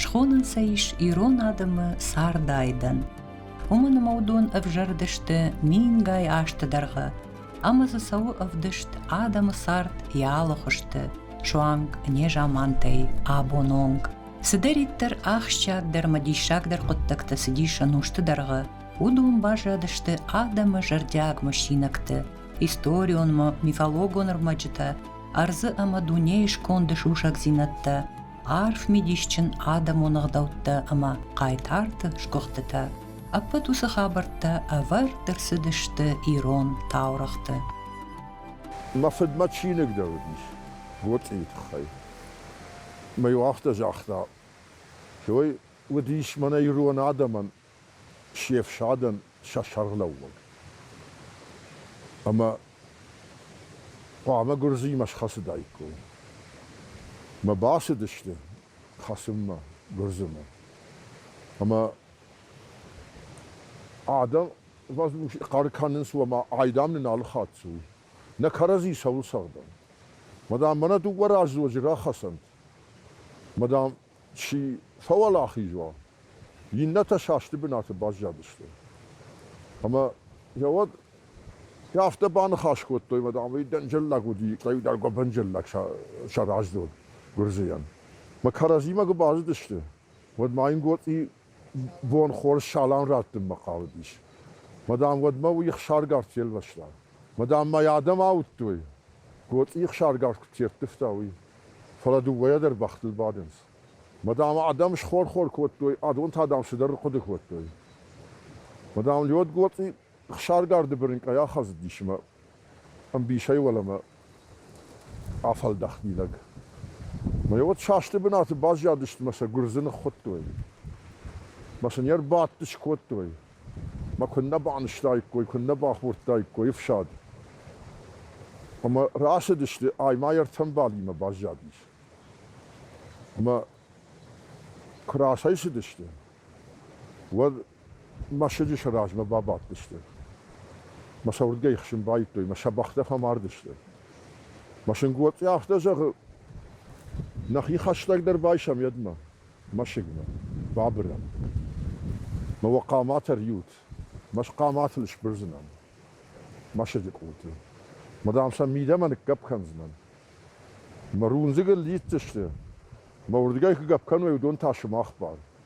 Схонынц ӕй ирон адӕмы цард айдӕн. Уымӕн ӕмӕ уыдон ӕвзӕрдысты мингай азты дӕргъы ӕмӕ дзы цӕуы ӕвдыст адӕмы цард йӕ алыхуызты, суанг незамантӕй абон онг. Цыдӕриддӕр ахсджиагдӕр мӕ диссагдӕр хъуыддӕгтӕ цыдис ӕнусты дӕргъы, уыдон баззадысты адӕмы зӕрдиаг мысинӕгты, историон мӕ мифологон ӕрмӕджытӕ, ӕрдзы ӕмӕ дунейы сконды сусӕгдзинӕдтӕ. арф мидисджын адӕмон ӕгъдӕуттӕ ӕмӕ хъайтарты сгуыхтытӕ. Ӕппӕт уыцы хабӕрттӕ ӕвӕрд ӕрцыдысты ирон таурӕгъты. Мӕ фыдмӕ чиныг дӕр уыдис Гоцъийы тыххӕй. Мӕ иу афтӕ загъта, Той уыдис мӕнӕ ирон адӕмӕн се фсадӕн сӕ сӕргълӕууӕг ӕмӕ хъуамӕ гуырдзыимӕ схӕцыдаиккой. Мӕ бацыдысты хӕцынмӕ гуырдзымӕ. Ӕмӕ адӕм хъӕр кӕнынц, ома айдам нын алы хатт цы у. Нӕ кӕрӕдзи цӕуыл цӕгъдӕм? Мадам, мӕнӕ дыууӕ раздзоджы рахӕцӕнт. Мадам, Чи фӕуӕлахиз уа, иннӕтӕ састы бынаты баззадысты. Ӕмӕ йӕ уӕд афтӕ баныхас кодтой, мадам, уый дӕнджӕллаг уыди, хъӕударг гуыбынджӕллаг сӕ раздзог, гуырдзыйӕн. Мӕ кӕрӕдзимӕ куы базыдысты, уӕд ма йын Гоцъи бон хорз салам раттынмӕ хъавыдис. Мадам уӕдмӕ уый ихсаргард фелвӕста. Мадам мӕ йӕ адӕм ауыдтой, Гоцъи ихсаргард куыд ферттывта, уый. Фӕлӕ дыууӕйӕ дӕр бӕхтыл бадынц. Мадам, адӕм схор-хор кодтой, адон та дӕм цыдӕр хъуыды кодтой. Мадам Лёд Гоцъи Хсаргарды бырынкъӕй ахӕдзыдис ӕмӕ ӕмбисӕй уӕлӕмӕ афӕлдӕхт мидӕг. Мӕ уӕд састы бынаты баззадысты мӕ сӕ гуырдзы ныххуыдтой. Мӕ сын йӕ рбадтыс кодтой. Мӕ куыннӕ банызтаиккой, куыннӕ бахордтаиккой ӕфсад. Ӕмӕ рацыдысты ай ма йӕ ӕртӕмбалимӕ баззадис. Ӕмӕ куы рацӕйцыдысты, уӕд мӕсыджы сӕ размӕ бабадтысты. Мӕ сӕ уырдгӕй ихсын байдтой, мӕ сӕ бӕхтӕ фӕмардысты. Мӕ сынгоцъе афтӕ зӕгъы, нӕхи хӕстӕгдӕр байсӕм едмӕ, мӕсыгмӕ, бабырӕм. Мӕ уӕ хъаматӕ рйут, мӕ схъаматыл сбырдзынӕн. Мӕсыджы къулты. Ма, дам, сӕ мидӕмӕ ныггӕпп кӕндзынӕн. Мӕ рундзыг ыл лидздзысты, мӕ уырдгӕй куы гӕпп кӕной, уыдон та сымах бар.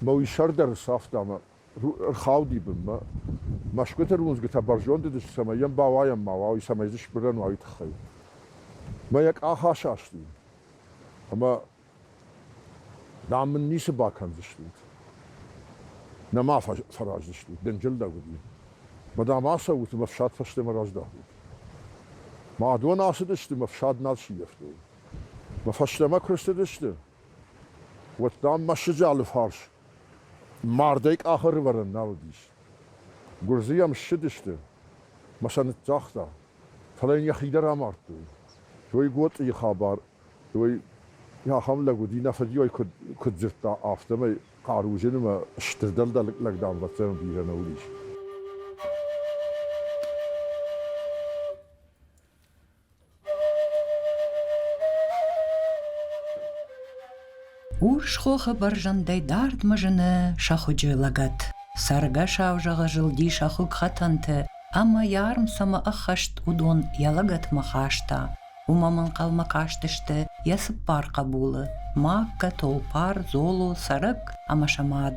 Мӕ уый сӕр дӕр ӕрцавта мӕ рхауди бынмӕ. Мӕсгуыты руындзгуытӕ бӕрзонд уыдысты, цӕмӕй йӕм бауайӕм ма уа, уый, цӕмӕй дзы сбырӕн уа, уый тыххӕй. Мӕ йӕ къах асасти. Ӕмӕ, дам, мын ницы бакӕндзыстут. Нӕ ма фӕраздзыстут, дынджылдӕг уыди. Ма, дам, ацӕут ӕмӕ фсад фӕстӕмӕ раздӕхут. Мӕ адон ацыдысты, мӕ фсад нал сивӕфтой. Мӕ фӕстӕмӕ куы рцыдысты, Уӕдта мӕсыджы алыфарс мардӕй къахы рывӕрӕн нал уыдис. Гуырдзы йӕм ссыдысты мӕ сӕ ныццагъта, фӕлӕ йын йӕхи дӕр амардтой. Той Гоцъийы хабар, той ахӕм лӕг уыди, нӕ фыдйой куыд дзырдта, афтӕмӕй хъаруджы нымӕ стыр дӕлдӕр лӕг дамбӕцӕн бирӕ нӕ уыдис. Урс хохы бӕрзӕндӕй дардмӕ зыны сӕхуыджы лӕгӕт. Цӕргӕсау зӕгъы зылди сӕ хугхӕтӕнты ӕмӕ йӕ арм цӕмӕ ӕххӕст, уыдон йӕ лӕгӕтмӕ хаста. Уымӕм ӕнхъӕлмӕ кастысты йӕ цыппар хъӕбулы: Маккӕ, Толпар, Золо, Цӕрӕк ӕмӕ сӕ мад.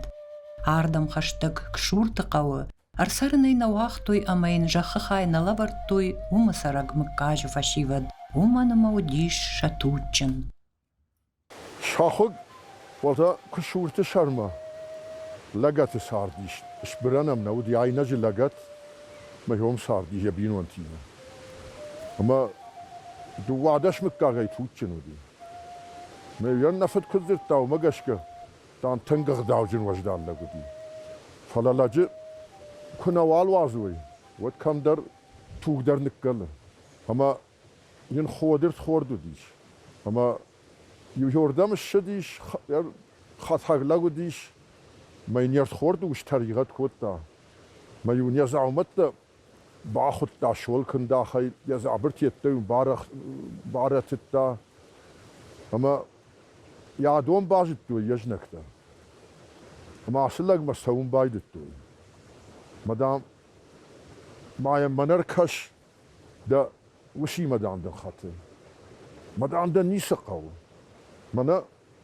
Ардӕм хӕстӕг Ксурты хъӕуы Ӕрцӕрын ӕй нӕ уагътой ӕмӕ йын зӕххы хай нӕ лӕвӕрдтой, уымы цӕрӕг мыггаджы фӕсивӕд, уымӕн ӕмӕ уыдис сӕ туджджын. Сӕхуыг уата Куысурты сӕрмӕ лӕгӕты цард ис. Сбырӕн ӕм нӕ уыди айнӕджы лӕгӕт, мӕйон царди йӕ бинонтимӕ. Ӕмӕ дыууадӕс мыггагӕй туджджын уыди. Мӕ йӕн нӕ фыд куыд дзырдта, уымӕ гӕсгӕ Дан тынг ӕгъдауджын уӕздан лӕг уыди. Фӕлӕ лӕджы куы нӕ уал уадзой, уӕд кӕмдӕр туг дӕр ныккӕлы. Ӕмӕ йын ходыртхорд уыдис. Ӕмӕ иуӕрдӕм ссыдис, хӕтӕг лӕг уыдис, мӕ йын йе рдхорды ус тӕригъӕд кодта. Мӕ-иу не дзаумӕттӕ Бахуыдта суӕлкӕндахӕй, йӕ дзабырты йеддӕмӕ барӕтыдта ӕмӕ йӕ дон базыдтой йе знӕгтӕ. Ӕмӕ ацы лӕгмӕ цӕуын байдыдтой. Мӕ дам, ма йӕм мӕнӕ ркӕс, дӕ усимӕ, дам, дын хӕты. Мӕ дам, дӕ ницы хъӕуы. Мӕнӕ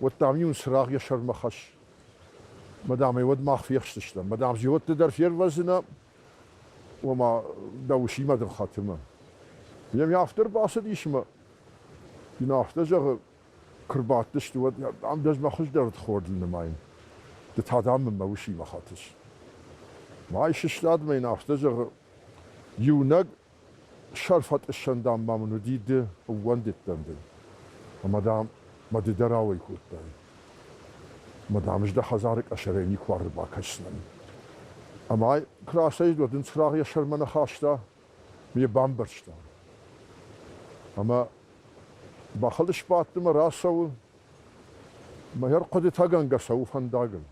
уӕд, дам-иу ын цырагъ йӕ сӕрмӕ хӕсс. Мадам, ӕй уӕд мах фехсдзыстӕм. Мадам, зиӕутты дӕр фервӕзынӕ, ома дӕ усимӕ дын хӕтымы. Йӕм афтӕ рбацыдис ӕмӕ йын афтӕ зӕгъы, куы рбадтысты, уӕд, дам, ӕз мӕ хуыздӕр удхорд ын нымайын. Ды та, дам, мын мӕ усимӕ хӕтыс. Ай сыстад мӕ йын афтӕ зӕгъы, Иунӕг сӕрфӕтъыссӕн, дам, ма мын уыди ды ӕууӕндыдтӕн дын, ӕмӕ, дам, мӕ ды дӕр ауӕй кодтай. Ӕмӕ, дам, ӕз дӕ хӕдзары къӕсӕрӕй никуы ӕрбакӕсдзынӕн. Ӕмӕ куы рацӕйцыд, уӕд ын цырагъ йӕ сӕрмӕ нӕ хаста, ме бамбӕрзта. Ӕмӕ бӕхыл сбадты мӕ рацӕуы, мӕ ӕрхъуыдытӕгӕнгӕ цӕуы фӕндагыл.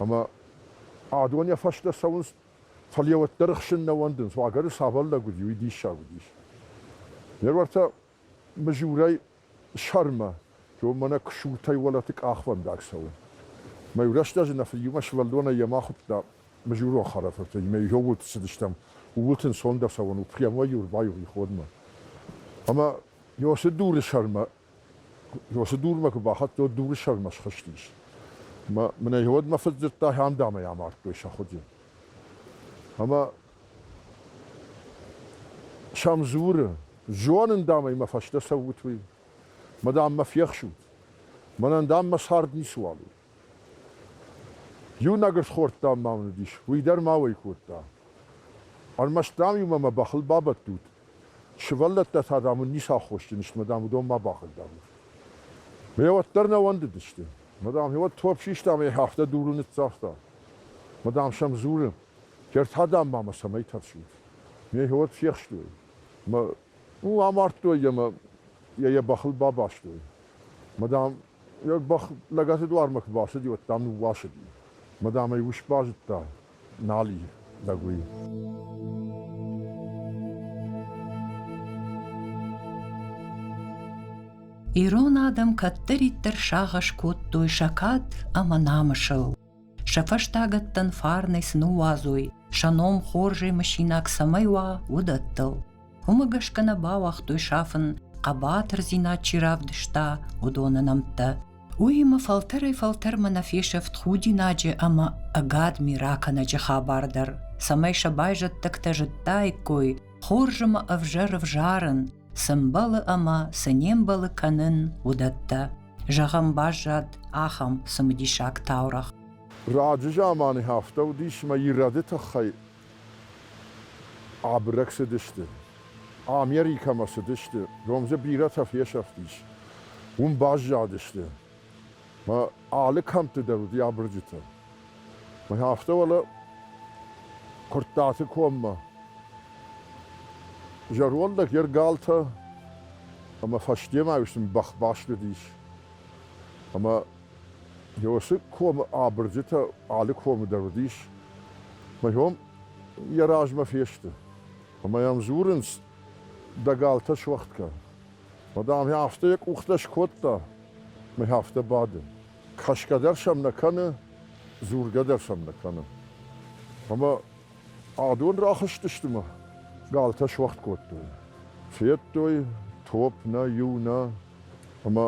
Ӕмӕ адон йӕ фӕстӕ цӕуынц Фӕлӕ йӕ уӕддӕр ӕхсын нӕ уӕндынц, уагӕры цавӕр лӕг уыди, уый диссаг уыдис. Ме рвӕртӕ мызурӕй сӕрмӕ кӕуы мӕнӕ куысуртӕй уӕлӕты къахвӕндаг цӕуы. Мӕ рӕстӕджы нӕ фыд иумӕ сывӕллонӕй йӕм ахуыдта мызурон хӕрӕфыртӕй, мӕ иу уылд цыдыстӕм, ууыл ын сондӕр цӕуӕн у, прямо йӕ ӕрбайои ходмӕ. Ӕмӕ йӕ уыцы дуры сӕрмӕ Уыцы дурмӕ куы бахӕццӕ, дуры сӕрмӕ схызтис. Мӕнӕ уӕд мӕ фыд дзырдта, ам дӕ ӕмӕ амардтой сӕ хуыди. Ӕмӕ сӕм дзуры, зонын, дам ӕй мӕ фӕстӕ цӕут, уый. Мӕ дам, мӕ фехсут. Мӕнӕн, дам, мӕ цард ницыуал у. Иунӕг ысхорд, дам, ма мын уыдис, уый дӕр ма уӕй кодта. Ӕрмӕст, дам-иу мӕ мӕ бӕхыл бабӕттут, Сывӕллӕттӕ та, дам, уын ницы аххосджын сты, мадам, уыдон ма бахъыг, дам. Ме уӕддӕр нӕ уӕндыдысты. Мадам, иуӕд топп систа ӕмӕ йӕ афтӕ дуры ныццагъта. Мадам сӕм дзуры, Герд та, дам, ма мӕ цӕмӕй тӕрсут? Ме хиуӕд фехстой мӕ уым амардтой йӕ мӕ йӕ йӕ бӕхыл бабастой. Мадам йӕ бӕх лӕгӕты дуармӕ куы бацыди, уӕд, дам, ныууасыди. Мадам ӕй ус базыдта, Нал и, так уый. Ирон адӕм кӕддӕриддӕр сагъӕс кодтой сӕ кад ӕмӕ намысыл. Сӕ фӕстагӕттӕн фарнӕй цы ныууадзой, сӕ ном хорзӕй мысинаг цӕмӕй уа, уыдӕттыл. Уымӕ гӕсгӕ нӕ бауагътой сафын, хъӕбатырдзинад чи равдыста, уыдоны нӕмттӕ. Уыимӕ фӕлтӕрӕй-фӕлтӕрмӕ нӕ фесӕфт худинаджы ӕмӕ ӕгадми ракӕнӕджы хабар дӕр, цӕмӕй сӕ байзӕддӕгтӕ зыдтаиккой, хорз ӕмӕ ӕвзӕр ӕвзарын, цы мбӕлы ӕмӕ цы не мбӕлы кӕнын, уыдӕттӕ. Зӕгъӕм, баззад ахӕм цымыдисаг таурӕгъ. Раджы заманы афтӕ уыдис ӕмӕ ирӕды тыххӕй Абырӕг цыдысты. Америкӕмӕ цыдысты, ном дзы бирӕтӕ фесӕфтис. Уым баззадысты. Мӕ алы кӕмтты дӕр уыди абырджытӕ. Мӕ афтӕ уӕлӕ Куырттаты коммӕ. Зӕронд лӕг, йе ргалтӕ ӕмӕ фӕстемӕ ис бӕхбӕстыдис. Ӕмӕ Иосы комы абырджытӕ алы комы дӕр уыдис, мыййом йӕ размӕ фесты. Ӕмӕ йӕм дзурынц, дӕ галтӕ суӕгъд кӕн. Ма, дам, йӕ афтӕ йӕ къухтӕ скодта, мӕй афтӕ бады. Кӕсгӕ дӕр сӕм нӕ кӕны, дзургӕ дӕр сӕм нӕ кӕны. Ӕмӕ адон рахызтысты мӕ галтӕ суӕгъд кодтой. Федтой, топ нӕ, иу нӕ, ӕмӕ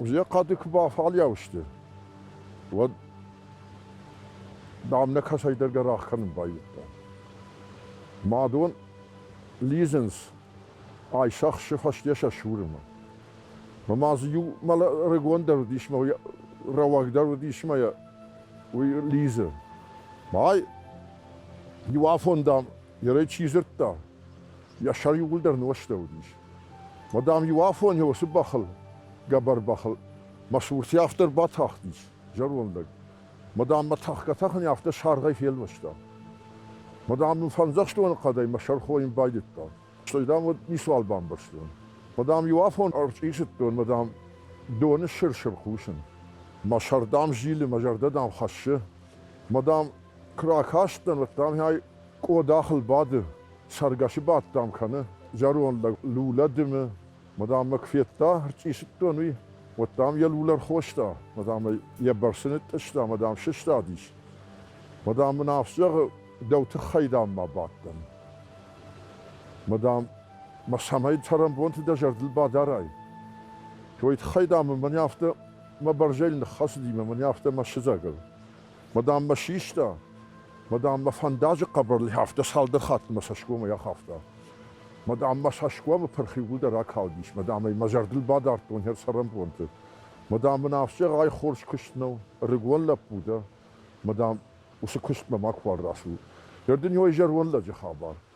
Йӕ хъӕды куы бафӕлиау сты, уӕд дам нӕ кӕцӕйдӕр гӕрах кӕнын байдыдта. Мӕ дон лидзынц Айсахсы фӕсте сӕ сурымы. Ӕмӕ дзы иу мӕлӕ рыгондӕр уыдис мӕ йӕ рӕуӕгдӕр уыдис мӕ йӕ уый лидзы. Ай иу афон, дам, йӕ рӕй чи дзырдта, йӕ сӕр иууылдӕр нозтӕ уыдис. Мадам-иу афонӕй уыцы бӕхыл, гӕбӕр бӕхыл, мӕ цуртӕй афтӕ ӕрбатахтис зӕронд лӕг. Мадам мӕ тӕхгӕ-тӕхын афтӕ саргъӕй фелвӕста. Мадам мын фӕндзӕхстоны хъӕдӕй мӕ сӕр хойын байдыдта, стӕй, дам, уӕд ницуал бамбӕрстон. Мадам иу афон ӕрчъицыдтон, мадам, доны сыр-сыр хъусын. Мӕ сӕр, дам, зилы, мӕ зӕрдӕ, дам, хӕссы. Мадам, куы ракастӕн, уӕд, дам, ӕй Къодахыл бады, цӕргӕсы бадт ӕм кӕны, зӕронд лӕг лулӕ дымы, мадаммӕ куы федта, ӕрчъицыдтон, уый, уӕд, дам, йӕ лулӕ ӕрхоста, мадам ӕй йӕ бӕрцы ныттъыста, мадам сыстадис. Мадам мын афтӕ зӕгъы, дӕу тыххӕй, дам, ма бадтӕн. Мадам, мӕ цӕмӕй цӕрӕнбонты дӕ зӕрдыл бадарай? Той тыххӕй, дам, мын афтӕ мӕ бӕрзӕйыл ныххӕцыди мӕ мын афтӕ мӕ сыдзӕгыл. Мадам мӕ систа. Мадам мӕ фӕндаджы хъӕбӕрлӕй афтӕ цалдӕр хатты мӕ цӕсгомӕй ахафта. Мадам мӕ цӕсгомы пырх иууылдӕр акалдис. Мадам ӕй мӕ зӕрдыл бадардтон хӕр цӕрӕнбонты. Мадам мын ӕвзӕрӕй хорз куыст нӕу, ӕрыгон лӕппу дӕ. Мадам уыцы куыстмӕ макуыуал рацу. Ӕрдын у ӕй зӕронд лӕджы хабар.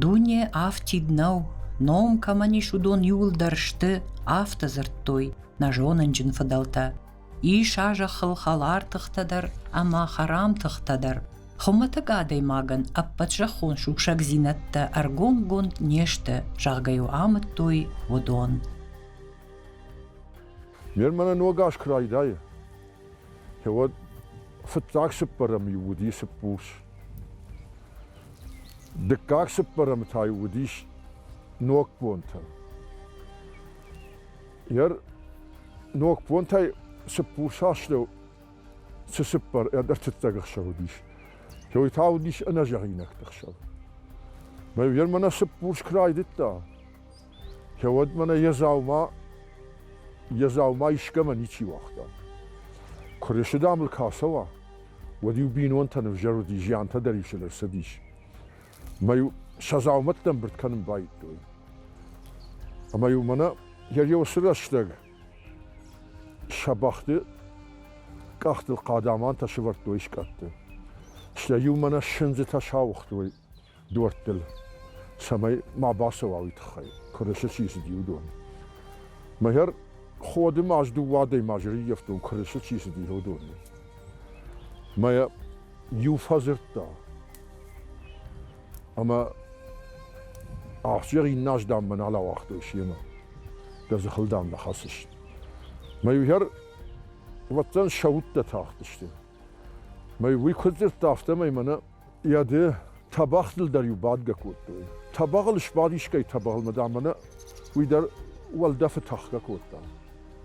Дуне афтид нӕу, ном кӕмӕн ис, уыдон иуылдӕр сты, афтӕ дзырдтой нӕ зонынджын фыдӕлтӕ. Ис а зӕххыл хӕлар тыхтӕ дӕр ӕмӕ хӕрам тыхтӕ дӕр. Хуымӕтӕг адӕймагӕн ӕппӕт зӕххон сусӕгдзинӕдтӕ ӕргомгонд не сты, зӕгъгӕ-иу амыдтой уыдон. Ме рмӕнӕ ног аз куы райдайы, уӕд фыццаг цыппӕрӕм-иу уыди цыппурс. Дыккаг цыппӕрӕмы та-иу уыдис ног бонтӕ. Йӕ ног бонтӕй цыппурс астӕу цы цыппар ӕртыццаг ӕхсӕв уыдис, той та уыдис ӕнӕзӕгъинӕгты ӕхсӕв. Мӕ фермӕ нӕ цыппурс куы райдыдта, кӕуӕд мӕнӕ йӕ дзаума йӕ дзаума искӕмӕ ничи уагъта. Куы рысыдамыл куы ацӕуа, уӕд-иу бинонтӕн ӕвзӕр уыди, зиантӕ дӕр исыл ӕрцыдис. Мӕ-иу сӕ дзаумӕттӕ ӕмбырд кӕнын байдтой. Ӕмӕ-иу мӕнӕ йӕ риосы рӕстӕг сӕ бӕхты къӕхтыл хъадамантӕ сывӕрдтой скъӕтты. Стӕй-иу мӕнӕ сындзытӕ сауыгътой дуӕрттыл, цӕмӕй ма бацӕуа уый тыххӕй, кырысы чи цыди, уыдон. Мӕгӕр ходы ма ӕз дыууӕ адӕймаджы рыййӕфтон кырысы чи цыди, уыдоны. Мӕ иу фӕдзырдта, ӕмӕ ахсджиаг иннӕ аздӕнмӕ нал ауагътой семӕ. Дӕ дзыхыл дам нӕ хӕцыс. Мӕ иугӕр уӕддӕн сӕ удтӕ тахтысты. Мӕ уый куыд дзырдта, афтӕмӕй мӕнӕ Йӕ де тӕбӕгътыл дӕр-иу бадгӕ кодтой. Тӕбӕгъыл сбад искӕй тӕбӕгъылмӕ, дам, мӕнӕ уый дӕр уӕлдӕфы тӕхгӕ кодта.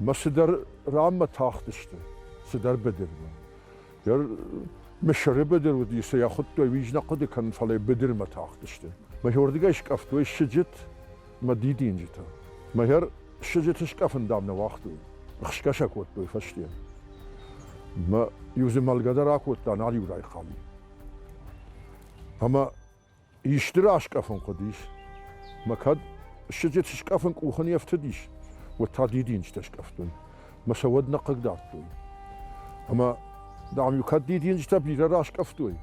Мӕ цыдӕр ранмӕ тахтысты, цыдӕр быдырмӕ. Йӕ мысыры быдыр уыди, цы йӕ хуыдтой, уый нӕ хъуыды кӕнын, фӕлӕ быдырмӕ тахтысты. Мӕ уырдыгӕй скъӕфтой сыджыт, Мӕ дидинджытӕ. Мӕгӕр сыджыты скъӕфын, дам, нӕ уагътой. Хсгӕ сӕ кодтой фӕсте. Мӕ иу зымӕлгӕ дӕр акодта нал иу райхъал. Ӕмӕ исты раскъӕфын хъуыдис. Мӕ кӕд сыджыты скъӕфын къухы не фтыдис, уӕд та дидинджытӕ скъӕфтон. Мӕ сӕ уӕд нӕ хъыг дардтой. Ӕмӕ, дам-иу кӕд дидинджытӕ бирӕ раскъӕфтой,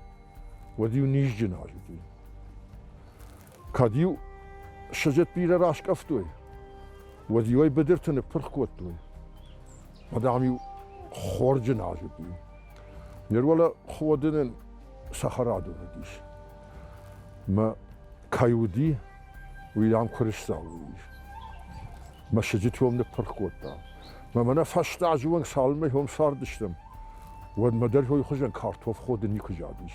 уӕд-иу низджын азыди. кӕд-иу сыджыт бирӕ раскъӕфтой, уӕд-иу ӕй быдырты ныппырх кодтой. Адӕм-иу хорджын азыдтой. Ныр уӕлӕ ходынӕн цӕхӕрадон уыдис. Мӕ кӕй уыди, уый дам куырысдзау уыдис. Мӕ сыджыт уым ныппырх кодта. Мӕ мӕнӕ фӕстӕ азы онг цалынмӕ хом цардыстӕм, уӕдмӕ дӕр хойы хуызӕн картоф ходын никуы задис.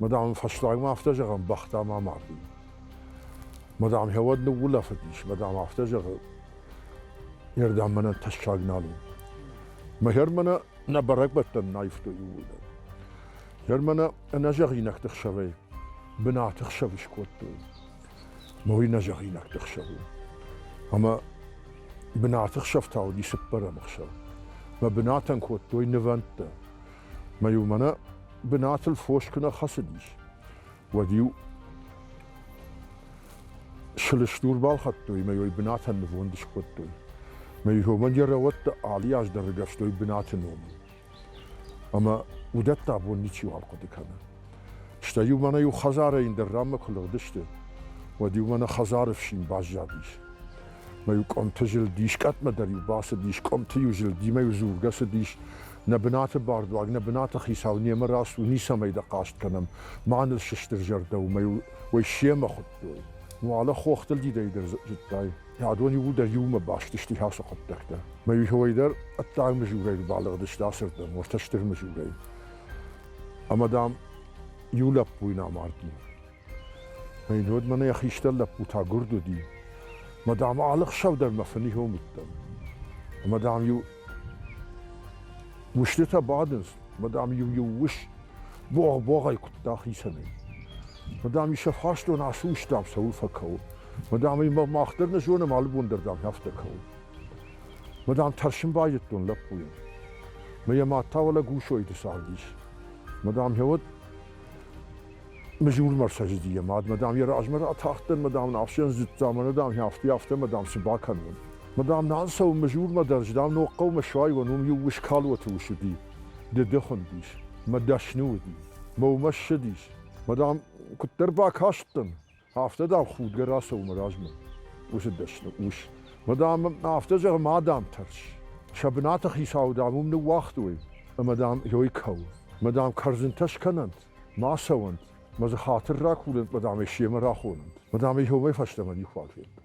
Мадам, фӕстагмӕ афтӕ зӕгъӕм, бӕхтӕ ма мардын. Мадам, хӕвӕд ныуулӕфыдис, мадам, афтӕ зӕгъы, не рдӕм мӕнӕ тӕссаг нал у. Мӕ хӕрмӕнӕ нӕ бӕрӕгбӕттӕн наивтой ууылдӕр. Хӕрмӕнӕ ӕнӕзӕгъинӕгты хсӕвӕй бынаты хсӕв скодтой. Мой нӕзӕгъинӕгты хсӕв у. Ӕмӕ бынаты хсӕв та уыди цыппӕрӕм хсӕв. Мӕ бынатӕн кодтой нывӕндтӕ. Мӕ иу мӕнӕ бынатыл фос куы нӕ хӕцыдис, уӕд-иу сылыстур балхӕдтой ӕмӕ йой бынатӕн нывонд скодтой. Мӕ хомӕн йӕ рӕуӕттӕ алы аз дӕр ӕргӕвстой бынаты номыл. Ӕмӕ уыдӕттӕ абон ничиуал хъуыды кӕны. Стӕй-иу мӕнӕ-иу хӕдзарӕй дӕр ранмӕ куы лыгъдысты, уӕд-иу мӕнӕ хӕдзары фсин баззадис. Мӕ-иу къуымты зылд искӕдмӕ дӕр-иу бацыдис, къуымты-иу зылдимӕ-иу дзургӕ цыдис, Нӕ бынаты бардуаг, нӕ бынаты хицау немӕ раст у, ницӕмӕй дӕ хъаст кӕнӕм, ма ныл сыстыр зӕрдӕ у, мӕ уӕй семӕ хуыдтой. Уӕлӕ хохтылдидӕй дӕр зыдтай. Адон-иу дӕр иумӕ баст сты ацы хъуыддӕгтӕ. Мӕ иуӕй дӕр ӕддаг мызурӕй рбалыгъдысты ацырдӕм, уӕртӕ стыр мызурӕй. Ӕмӕ, дам, иу лӕппуйын амардин. Ӕй, уӕд мӕнӕ йӕ хистӕр лӕппу та гуырд уыди. Ӕмӕ, дам, алы хсӕв дӕр мӕ фынигьон уыдтӕн. Ӕмӕ, дам-иу устытӕ бадынц, ӕмӕ, дам-иу-иу ус богъ-богъӕй куыдта хицӕнӕй. Ӕмӕ, дам, сӕ фарстон ацы ус, дам, цӕуыл фӕкӕуы. Ӕмӕ, дам, мах дӕр нӕ зонӕм алы бон дӕр, дам, афтӕ кӕуы. Ӕмӕ, дам, тӕрсын байдыдтон лӕппуйӕн. Ӕмӕ йӕ мад та уӕлӕ Гусойты цардис. Ӕмӕ, дам, йӕ уӕд Мызурмӕ рцӕдзыди йӕ мад, мадам, йӕ размӕ ратахтдӕн, мадам, ӕфсӕндзыдта, мӕ, мадам, афтӕ, афтӕ, мадам, цы бакӕнон? Мадам, нал цӕуын Мызурмӕ дӕр, дам, Ногхъӕумӕ суайон, уым иу ус калоты ус уыди, дыды хуындис, мӕ дӕсны уыди, мӕ уымӕ ссыдис. Мадам, куыддӕр бакастӕн, Афтӕ, дам, худгӕ рацӕуы мӕ размӕ уыцы дӕсны ус. Мӕ, дам, афтӕ зӕгъы, ма, дам, тӕрс. Сӕ бынаты хицау, дам, уым ныууагътой, ӕмӕ, дам, ёй кӕуы. Мӕ, дам, кӕрдзынтӕ скӕнӕнт, ма цӕуӕнт, мӕ дзы хатыр ракурӕнт, мӕ, дам, ӕй семӕ рахонӕнт. Мӕ, дам, ӕй омӕй фӕстӕмӕ никуы бафедтон.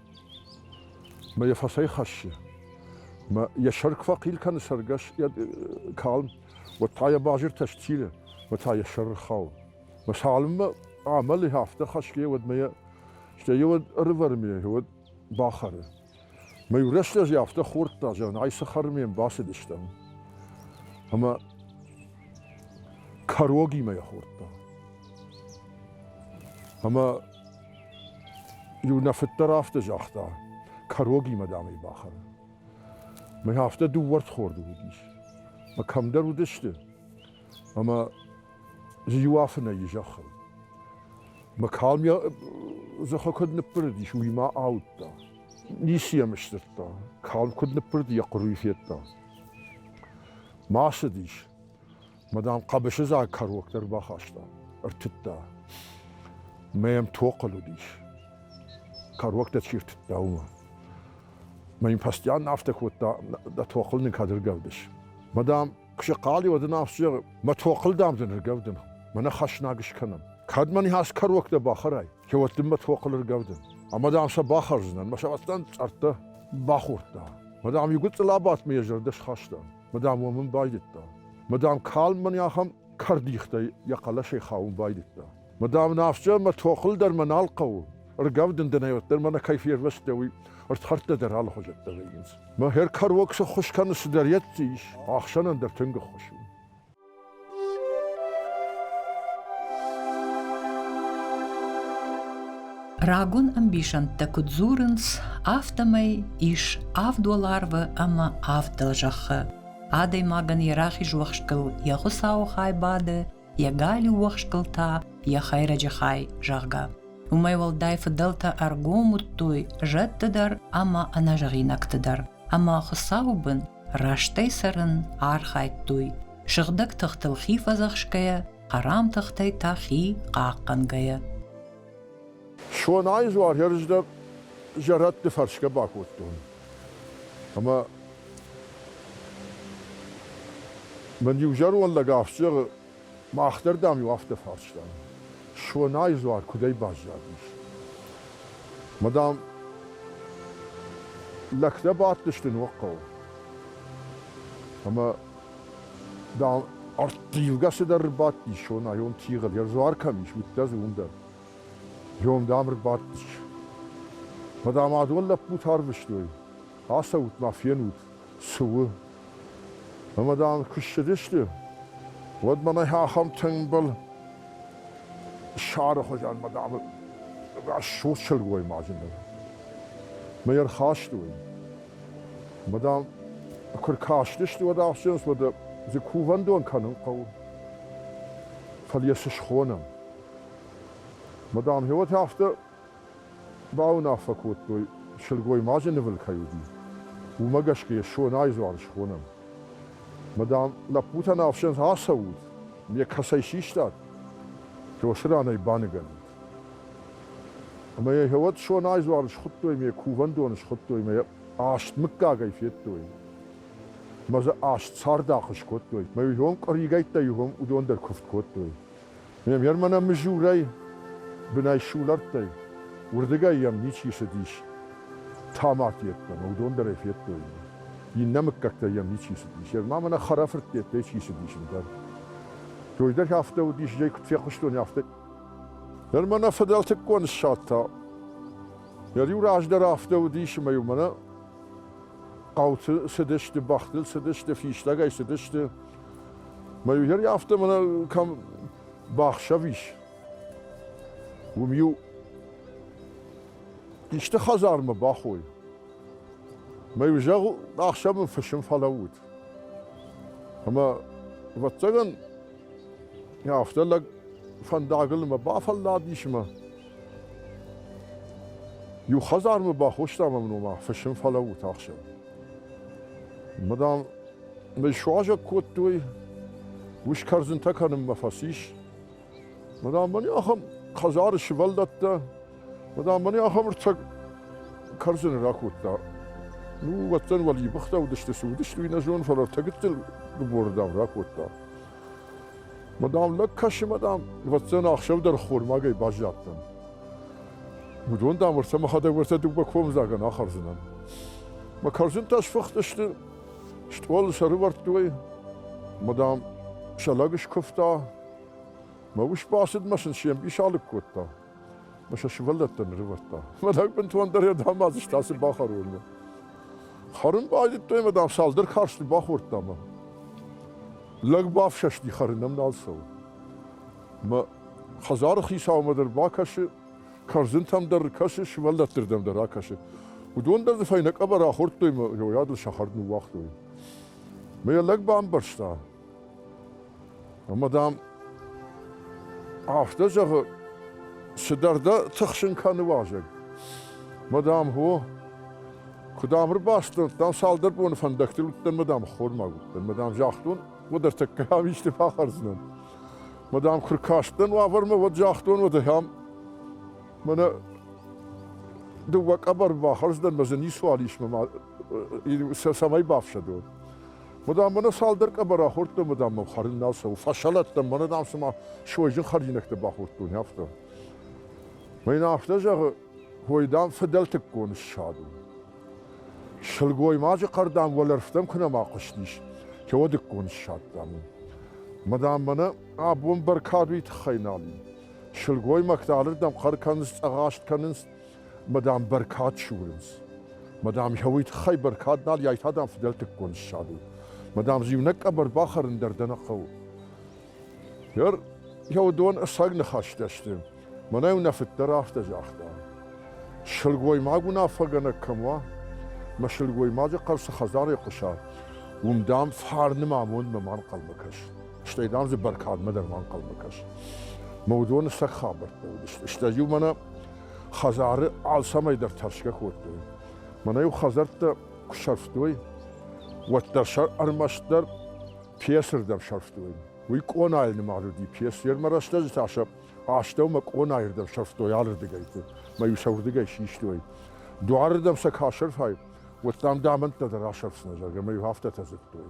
Мӕ йӕ фӕцӕйхӕссы. Мӕ йӕ сӕр куы фӕхъил кӕны цӕргӕс йӕ калм, уӕд та йӕ базыртӕ сцилы, уӕд та йӕ сӕр ӕрхауы. Мӕ цалынмӕ амӕлы афтӕ хӕсгӕ, уӕдмӕ йӕ стӕй уӕд ӕрывӕрмӕ уӕд бахӕры. Мӕ иу рӕстӕг афтӕ хордта, зӕгъын, ай цы хӕрмӕ йӕм бацыдыстӕм. Ӕмӕ кӕрогимӕ йӕ хордта. Ӕмӕ Иу нӕ фыддӕр афтӕ загъта, кӕрогимӕ, дам ӕй бахӕрын. Мӕ афтӕ дыууӕрдхорды уыдис, мӕ кӕмдӕр уыдысты, ӕмӕ дзы иу афынӕйы зӕххыл. Мӕ калм йӕ дзыхы куыд ныббырыдис, уый ма ауыдта. Ницы йӕм сдзырдта, калм куыд ныббырыд, йӕ хъуырый федта. Ма ацыдис, Мадам хъӕбысыдзаг кӕрок дӕр бахаста, ӕртыдта. Мӕ йӕм тохъыл уыдис. Кӕрок дӕ чи ртыдта, уымӕ. Мӕ йын постоянно афтӕ кодта, дӕ тохыл никӕд ӕргӕвдыс. Мадам, куы сыхъали, уӕд ын афтӕ зӕгъы, мӕ тохыл, дам, дын ӕргӕвдын. Мӕнӕ хӕснаг скӕнӕм. Кӕд мӕн хӕс кӕрок дӕ бахӕрай, кӕуӕд дын мӕ тохыл ӕргӕвдын. Ӕмӕ, дам, сӕ бахӕрдзынӕн, мӕ сӕвӕттӕн цъӕрттӕ бахордта. Мадам, иу гуыцъыл абадт мӕ йӕ зӕрдӕ схаста. Мадам уо мын байдыдта. Мадам калм мын ахӕм кӕрдихтӕй йӕ хъӕлӕсӕй хауын байдыдта. Мадам, афтӕ мӕ тохыл дӕр мӕ нал хъӕуы. Ргӕвд ын дӕн ӕвӕддӕр мӕнӕ кӕй фервӕзтӕ, уый ӕрдхӕрдтӕ дӕр алыхуызӕттӕ вӕййынц. Мӕ хӕркӕрог цы ххуыс кӕны, цыдӕр йӕ ис, ахсӕнӕн дӕр тынг ӕххуыс у. Рагон ӕмбисӕндтӕ куыд дзурынц, афтӕмӕй ис авд уӕларвы ӕмӕ авд дӕлзӕххы. Адӕймагӕн йӕ рахиз уӕхскыл йӕ хуыцауы хай бады, йӕ галиу уӕхскыл та йӕ хӕйрӕджы хай, зӕгъгӕ. Уымӕй уӕлдай фыдӕлтӕ ӕргом уыдтой зӕдты дӕр ӕмӕ ӕнӕзӕгъинӕгты дӕр. Ӕмӕ Хуыцауы бын растӕй цӕрын архайдтой, сыгъдӕг тыхтыл хи фӕдзӕхсгӕйӕ, хӕрам тыхтӕй та хи хъахъхъӕнгӕйӕ. Сонайы дзуаргӕрзтӕ зӕрӕдты фӕрсгӕ бакодтон. Ӕмӕ мын иу зӕронд лӕг афтӕ зӕгъы, Мах дӕр, дам-иу афтӕ фарстам, Сонайы дзуар куыдӕй баззадис. Мӕ, дам, лӕгтӕ бадтысты ног хъӕуы. Ӕмӕ, дам, ӕрттивгӕ цыдӕр ӕрбадти Сонайон тигъыл, йӕ дзуар кӕм ис, уыдтӕ дзы уым дӕр. Йом, дам, ӕрбадтысты. Мӕ, дам, адон лӕппутӕ арвыстой. Ацӕут-ма, фенут, цы у? Ӕмӕ дӕм куы ссыдысты, уӕд мӕнӕй ахӕм тымбыл сӕры хуызӕн мадам рӕсугъд сылгоймаджы мӕ ӕрхастой. Мадам, куы ркастысты, уӕд ахсынц, уӕд дзы кувӕндон кӕнын хъӕуы. Фӕлӕ йӕ цы схонӕм? Мадам, гъеуӕд афтӕ Бауынаффӕ кодтой, сылгоймаджы нывыл кӕй уыди, уымӕ гӕсгӕ йӕ Сонайы дзуары схонӕм. Ма, дам, лӕппутӕн ӕфсӕн ацӕут, ме кӕцӕй систат? Тёсы ранӕй баныгӕнут. Ӕмӕ йӕ гъеуӕд Сонайы дзуары схуыдтой ме кувӕндоны схуыдтой мӕ йӕ аст мыггагӕй федтой. Мӕ дзы аст цардахъ скодтой, мӕ ирон къуыригӕйттӕ иугъуым уыдон дӕр куывд кодтой. Ме мӕнӕ мызурӕй бынӕй сулӕрттӕй, уырдыгӕй йӕм ничи цыдис. Тамак йеддӕмӕ уыдон дӕр ӕй федтой. Иннӕ мыггӕгтӕй йӕм ничи цыдис. Йе ма мӕнӕ хӕрӕфырттеттӕй чи цыдис ӕндӕр. Той дӕр афтӕ уыдис, зӕй куыд фехъуыстон, афтӕ. Ныр мӕнӕ фыдӕлтыккон ссад та. Йӕ риу раздӕр афтӕ уыдис, ӕмӕ-иу мӕнӕ хъӕуты цыдысты, бӕхтыл цыдысты, фистӕгӕй цыдысты. Мӕ иу афтӕ мӕнӕ кӕм бахсӕв ис, уым-иу исты хӕдзармӕ бахой. Мӕ иу зӕгъ, ахсӕв мын фысым фӕлӕуут. Ӕмӕ, ӕвӕццӕгӕн, афтӕ лӕг фӕндагыл мӕ бафӕлладис мӕ Иу хӕдзармӕ бахостам ӕм нома фысым фӕлӕууыд ахсӕв. Мадам, мӕй суазӕг кодтой, ус кӕрдзынтӕ кӕнынмӕ фӕцис. Мадам, мӕн ахӕм хӕдзары сывӕллӕттӕ, мадам, мӕн ахӕм ӕрцӕг кӕрдзыны ракодта. Ну, уӕддӕн уӕлибыхтӕ уыдысты, цы уыдысты, уый нӕ зонын, фӕлӕ ӕртӕ гыццыл гыборы, дам, ракодта. Мадам, лӕг кӕсы, мадам, ӕвӕццӕн ӕхсӕв дӕр хойрмагӕй баззадтӕн. Уыдон, дам, ӕрцӕ мӕхӕдӕг ӕрцӕ дыууӕ комдзагӕн ахӕрдзынӕн. Мӕ кӕрдзынтӕ сфыхтысты, стъол сӕрывӕрдтой, мадам сӕ лӕг скуывта, мӕ ус бацыд мӕ сын се мбис алыг кодта. сӕ сывӕллӕттӕ нырывӕрдта. Мӕдӕг бынтондӕр йӕ дамадзыст ацы бахӕронмӕ. Хӕрын байдыдтой ӕмӕ дам цалдӕр карсты бахордта мӕ. Лӕг бафсӕсти хӕрынӕм нал цӕуы. Мӕ хӕдзары хицаумӕ дӕр бакӕсы, кӕрдзынтӕм дӕр кӕсы, сывӕллӕтты рдӕм дӕр ракӕсы. Уыдон дӕр дзы фӕйнӕ къӕбӕр ахордтой мӕ йойадыл сӕ хӕрд ныууагътой. Мӕ йӕ лӕг бамбӕрста, Ӕмӕ, дам, афтӕ зӕгъы, цыдӕр дӕ тыхсын кӕны уазӕг. Мадам, хо, куыд ам ӕрбастон, дам, цалдӕр боны фӕндӕгтыл уыдтӕн, мадам, ххормаг уыдтӕн. Мадам, загътон, уӕд ӕртӕккӕ ам исты фӕхӕрдзынӕн. Мадам, куы ркастӕн уавӕрмӕ, уӕд загътон уӕд ахӕм, мӕнӕ дыууӕ къӕбӕр бахӕрдзынӕн, мӕ дзы ницуал ис, мӕ ма сӕ цӕмӕй бафсӕдон. Мадам, мӕнӕ цалдӕр къӕбӕр ахордтон, мадам, мӕм хӕрын нал цӕуы. Фӕсӕлӕттӕм, мӕнӕ, дам, цыма сойджын хӕринӕгтӕ бахордтон, афтӕ. Мӕ йын афтӕ зӕгъы, ой, дам, фыдӕлтыккон ссад у. Сылгоймаджы хъӕр, дам, уӕлӕрвтӕм куы нӕма хъуыстис, теодыккон ссад, дам, у. Мадам, мӕнӕ абон бӕркадуйы тыххӕй нал и. Сылгоймӕгтӕ алырдӕм хъӕр кӕнынц, цъӕгъаст кӕнынц, мӕ дам бӕркад сурынц. Мӕ дам йӕ уый тыххӕй бӕркад нал йӕ та дам фыдӕлтыккон ссад у. Мӕ дам зиунӕг къӕбӕр бахӕрын дӕр дӕ нӕ хъӕуы. Гӕр, йӕ уыдон ӕцӕг ныхӕстӕ сты. Мӕнӕ уынаффыддӕр афтӕ загъта. Сылгоймаг уынаффӕгӕнӕг кӕм уа, мӕ сылгоймаджы хъӕр цы хӕдзарӕй хъуыса, уым, дам, фарны мӕ амондмӕ ма нхъӕлмӕ кӕс. Стӕй, дам, дзы бӕркадмӕ дӕр ма нхъӕлмӕ кӕс. Мӕ уыдоны сӕ хабӕрттӕ уыдысты. Стӕй-иу мӕнӕ хӕдзары алцӕмӕй дӕр тӕрсгӕ кодтой. Мӕнӕ-иу хӕдзӕрттӕ куы сӕрфтой, уӕддӕр сӕ ӕрмӕстдӕр песырдӕм сӕрфтой. Уый къонайыл нымад уыди песырмӕ рӕстӕджы та сӕ астӕумӕ къонайырдӕм сӕрфтой алырдыгӕйты, мӕ-иу сӕ уырдыгӕй систой. Дуарырдӕм сӕ кӕ сӕрфай, уӕд дам дамӕнттӕ дӕр асӕрфдзынӕ, зӕгъгӕ, мӕ-иу афтӕтӕ дзырдтой.